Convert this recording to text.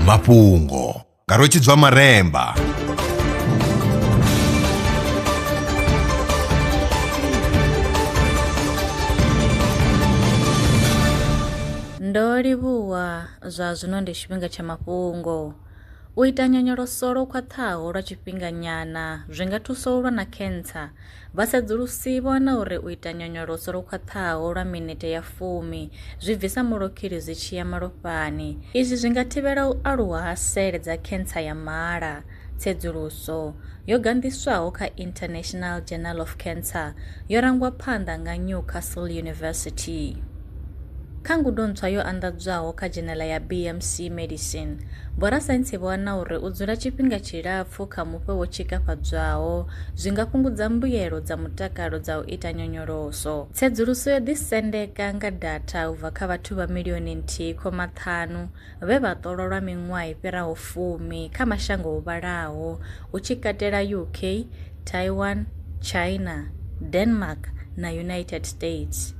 mafhungo nga rwetshidzwa maremba ndo livhuwa zwa zwino ndi tshifhinga tsha mafhungo U ita nyonyoloso lwo khwaṱhaho lwa tshifhinganyana zwi nga thusa u lwa na khentsa. Vhasedzulusi vho wana uri u ita nyonyoloso lwo khwaṱhaho lwa minete ya fumi zwi bvisa mulokhili zwi tshi ya malofhani. Izwi zwi nga thivhela u aluwa ha sele dza khentsa ya mala. Tsedzuluso yo ganḓiswaho kha International Journal of Cancer yo rangwa phanḓa nga Newcastle University. Kha ngudo ntswa yo anḓadzwaho kha dzhenela ya BMC Medicine, vhorasaintsi vho wana uri u dzula tshifhinga tshilapfu kha mufhe wo tshikafhadzwaho zwi nga fhungudza mbuyelo dza mutakalo dza u ita nyonyoloso. Tsedzuluso yo ḓisendeka nga datha u bva kha vhathu vha milioni nthihi khoma ṱhanu vhe vha ṱolwa lwa miṅwaha i fhiraho fumi kha mashango ho vhalaho, hu tshi katela UK, Taiwan, China, Denmark na United States.